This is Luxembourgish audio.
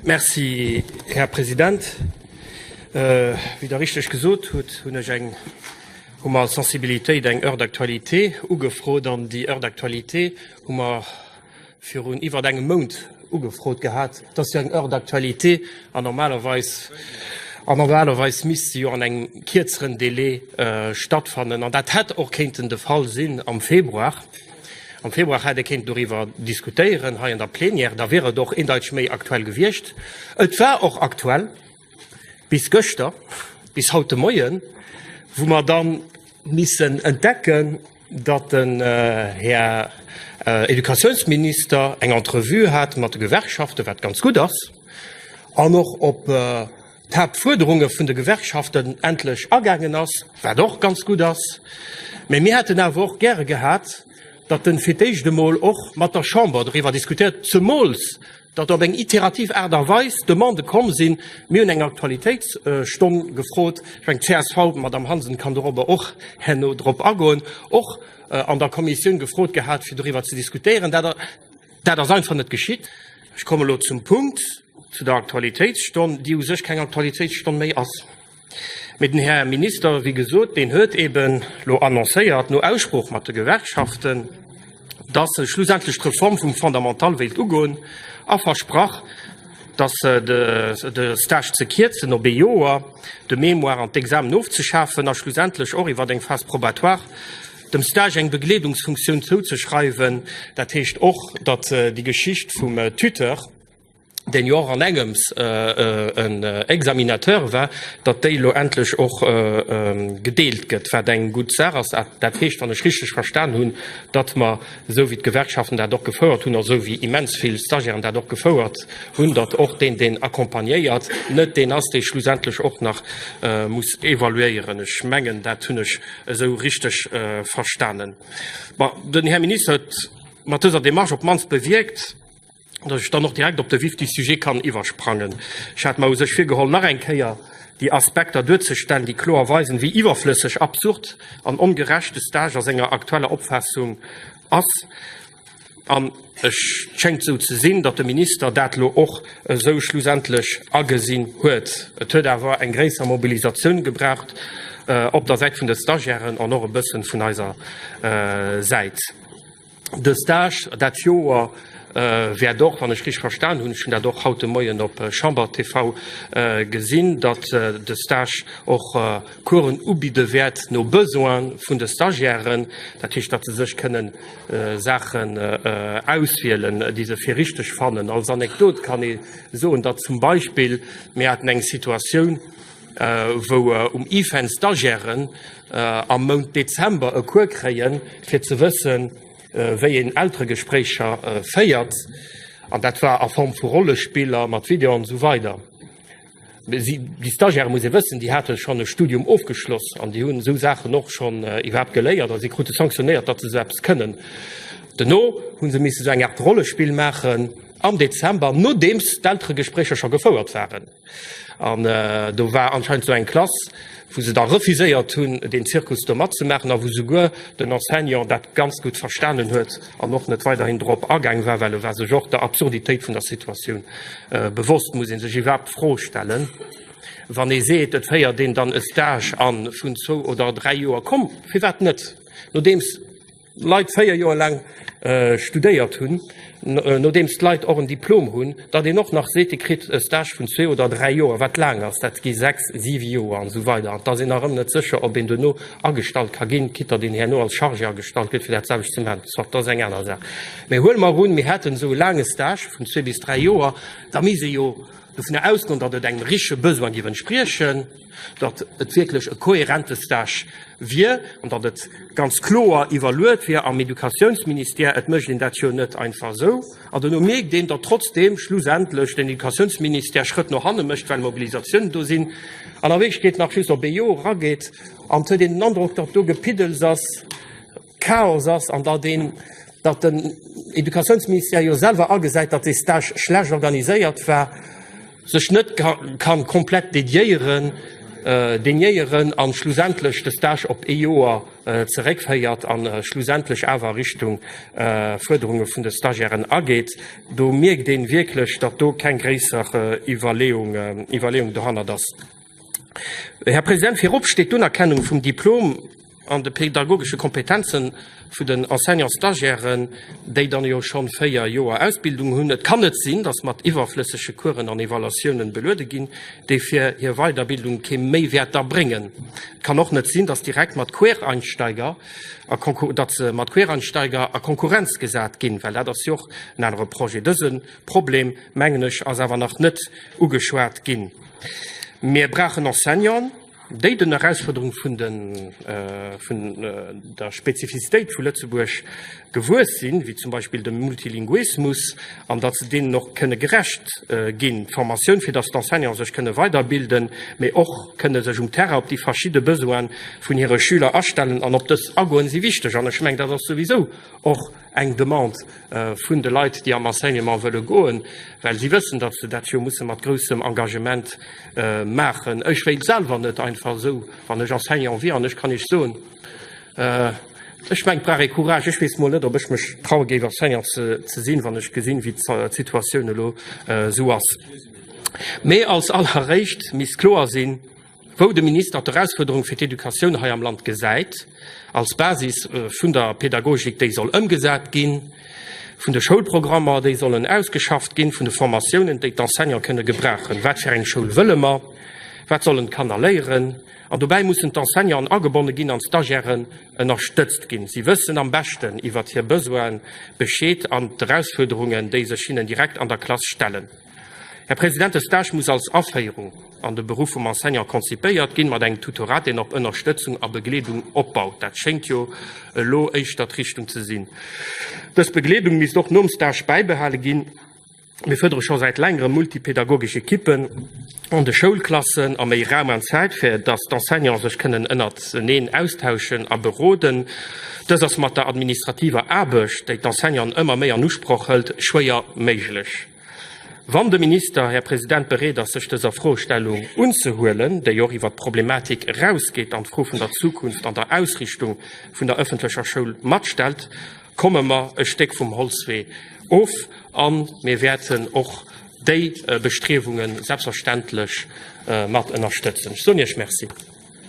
Merci, Här President. Wéi Der richteg gesot hutt, hunn ech eng, hu mer als Sensibilitéit eng Heure d'actualité ugefrot. An déi Heure d'actualité hu mer virun iwwert engem Mount ugefrot gehat. Et ass jo eng Heure d'actualité an normalerweis, an normalerweis misst se jo an engem kierzeren Délai stattfannen. An dat hätt och kéinten de Fall sinn am Februar. Am Februar hätt ee kéinten doriwwer diskutéieren hei an der Plenière, da wier et och een Deitsch méi aktuell gewiescht. Et war och aktuell bis gëschter, bis haut de Moien, wou mer da missen entdecken, datt den Här Educatiounsminister eng Entrevue hat mat de Gewerkschaften, wat ganz gutt ass, an och op d'Haaptfuerderunge vun de Gewerkschaften endlech agaangen ass, wat och ganz gutt ass. Mee mir hätten awer och gäre gehat, datt en fir d'éischt emol och mat der Chamber doriwwer diskutéiert, zemools datt op eng iterativ Aart a Weis Demandë komm sinn. Mir hunn eng Aktualitéitsstonn gefrot, ech mengen d'CSV, d'Madame Hansen kann dorobber och herno drop agoen, och an der Kommissioun gefrot gehat, fir doriwwer ze diskutéieren. Dat ass einfach net geschitt. Ech kommen elo zum Punkt, zu der Aktualitéitsstonn, déi u sech keng Aktualitéitsstonn méi ass. Mee den Här Minister, wéi gesot, deen huet eben elo annoncéiert, no Aussprooch mat de Gewerkschaften, dass e schlussendlech d'Reform vum Fondamental wéilt ugoen a versprach, dass de Stage ze kierzen op ee Joer, de Mémoire an d'Examen ofzeschafen a schlussendlech och iwwer eng Phase probatoire, dem Stage eng Begleedungsfunktioun zouzeschreiwen, dat heescht och, datt déi Geschicht vum Tuteur, deen jo och an engems en Examinateur war, datt déi elo endlech och gedeelt gëtt, wat eng gutt Saach ass. Dat heescht, wann ech richteg verstan hunn, datt mer, esou wéi d'Gewerkschaften dat och gefouert hunn, esou wéi immens vill Stagiairen dat och gefouert hunn, datt och deen, deen accompagnéiert, net deen ass, dee schlussendlech och nach muss evaluéieren. Ech mengen, dat hunn ech esou richteg verstanen. Den Här Minister huet mat dëser Demarche op d'mannst bewierkt, dass ech dann och direkt op de vif du sujet kann iwwersprangen. Ech hat mer u sech virgeholl, nach eng Kéier déi Aspekter duerzestellen, déi kloer weisen, wéi iwwerflësseg, absurd an ongerecht de Stage a senger aktueller Opfaassung ass. An et schéngt esou ze sinn, datt de Minister dat elo och esou schlussendlech agesinn huet. Et huet awer eng gréisser Mobilisatioun gebraucht op der Säit vun de Stagiairen an och e bëssen vun eiser Säit. De Stage dat Joer wäert och, wann ech richteg verstan hunn, ech hunn dat och haut de Moien op Chamber TV gesinn, datt de Stage och Coursen ubidde wäert no Besoin vun de Stagiairen. Dat heescht, datt se sech kënnen Saachen auswielen, déi se fir richteg fannen. Als Anekdot kann ee soen, datt zum Beispill mir haten eng Situatioun, wou um IFEN Stagiairen am Mount Dezember e Cours kréien, fir ze wëssen, wéi een Elteregespréicher féiert. An dat war a Form vu Rollespiller, mat Video an esou weider. Déi Stagiairen, muss ee wëssen, déi hate schonn e Studium ofgeschloss an déi hunn esou Saachen och schonn iwwerhaapt geléiert a si krute sanktionéiert, datt se esou eppes kënnen. Duerno hu se missen esou eng Aart Rollespill maachen am Dezember, nodeems d'Elteregespréicher scho gefouert waren. An do war anscheinend esou eng Klass, wou se da refuséiert hunn, deen Zirkus do matzemaachen a wou souguer den Enseignant dat ganz gutt verstanen huet an och net weiderhin dorop agaang war, well e war sech och der Absurditéit vun der Situatioun bewosst. Muss ee sech iwwerhaapt d'Fro stellen, wann ee seet, et féiert een dann e Stage an vun zwou oder dräi Joer, komm, firwat net, nodeems, Leit 4 Joer laang studéiert hunn, nodeems d'Leit och en Diplom hunn, datt een och nach seet, ee kritt e Stage vun zwee oder dräi Joer, wat laang ass, dat gi sechs, siwe Joer an esou weider, an datt een nach ëm net sécher, ob een duerno agestallt ka ginn, quitt datt een herno als Chargé agestallt gëtt fir dat selwecht ze maachen. Soit, dat ass eng aner Saach. Mee huele mer un, mir hätten esou e laange Stage vun zwee bis dräi Joer, da misst ee jo dovunner ausgoen, datt et engem richtege Besoin géif entspriechen. datt et wierklech e kohärente Stage wier an datt et ganz kloer iwwerluet wier am Educatiounsministère. Et mécht een dat jo net einfach esou. An duerno mierkt een, datt trotzdeem schlussendlech den Educatiounsministère Schrëtt no hanne mécht, well Mobilisatiounen do sinn an a Wierklechkeet nach just op ee Joer erageet. An et huet een den Androck, datt do Gepiddels ass. Chaos ass an datt een, datt den Educatiounsministère jo selwer agesäit, datt dee Stage schlecht organiséiert war, sech net ka komplett dediéieren, déniéieren an schlussendlech de Stage op ee Joer zeréckféiert an schlussendlech awer Richtung Fuerderunge vun de Stagiairen ageet, do mierkt een wierklech, datt do keng gréisser Iwwerleeung, Iwwerleeung dohannert ass. Här President, virop steet d'Unerkennung vum Diplom an de pädagogesche Kompetenze vun den Enseignant-Stagiairen, déi dann jo scho véier Joer Ausbildung hunn. Et kann net sinn, datt mat iwwerflëssege Coursen an Evaluatiounen beluede ginn, déi fir hir Weiderbildung kee Méiwäert da bréngen. Et kann och net sinn, datt direkt mat Quereinsteiger a datt se mat Quereinsteiger a Konkurrenz gesat ginn, well dat ass jo och en anere Projet. Dëse Problem, mengen ech, ass awer nach net ugeschwat ginn. Mir brauchen Enseignanten, déi den Erausfuerderunge vun der Spezifizitéit vu Lëtzebuerg gewuess sinn, wéi zum Beispill dem Multilinguismus, an datt se deenen och kënne gerecht ginn, d'Formatioun, fir datt d'Enseignanten sech kënne weiderbilden, mee och kënne sech um Terrain op déi verschidde Besoine vun hire Schüler astellen. An op dës agoen si wichteg. An ech mengen, dat ass souwisou och eng Demande vun de Leit, déi am Enseignement wëlle goen, well si wëssen, datt se dat jo musse mat groussem Engagement maachen. Ech wéilt selwer net einfach esou, wann ech Enseignant wier an ech kann Iech soen, ech mengt brauch ee Courage, ech weess mol net, ob ech mech traue géif Enseignant ze sinn, wann ech gesinn, wéi d'Situatioun elo esou ass. Mee als alleréischt misst kloer sinn, wou de Minister d'Erausfuerderung fir d'Educatioun hei am Land gesäit, als Basis vun der Pedagogik, déi soll ëmgesat ginn, vun de Schoulprogrammer, déi sollen ausgeschafft ginn, vun de Formatiounen, déi d'Enseignante kënne gebrauchen. Wat fir eng Schoul wëlle mer? Wat sollen d'Kanner léieren? An dobäi mussen d'Enseignanten agebonne ginn an d'Stagiairen ënnerstëtzt ginn. Si wëssen am beschten iwwert hir Besoine Bescheed an d'Erausfuerderungen, déi sech hinnen direkt an der Klass stellen. Här President, de Stage muss als Aféierung an de Beruff vum Enseignant konzipéiert ginn, mat engem Tutorat, deen op Ënnerstëtzung a Begleedung opbaut. Dat schéngt jo elo éischter d'Richtung ze sinn. Dës Begleedung misst och nom Stage bäibehale ginn. Mir fërdere scho säit längerem multipedagogesch Ekippen an de Schoulklassen a méi Raum an Zäit, fir datt d'Enseignanten sech kënnen ënnerteneen austauschen a beroden. Dës ass mat der administrativer Aarbecht, déi d'Enseignanten ëmmer méi an Usproch hëlt, schwéier méiglech. Wann de Minister, Här President, bereet ass, sech dëser Fro Stellung unzehuelen, déi och iwwert d'Problematik erausgeet an d'Fro vun der Zukunft an der Ausrichtung vun der ëffentlecher Schoul matstellt, komme mer e Stéck vum Holzwee of a mir wäerten och déi Bestriewungen selbstverständlech mat ënnerstëtzen. Ech soen Iech Merci.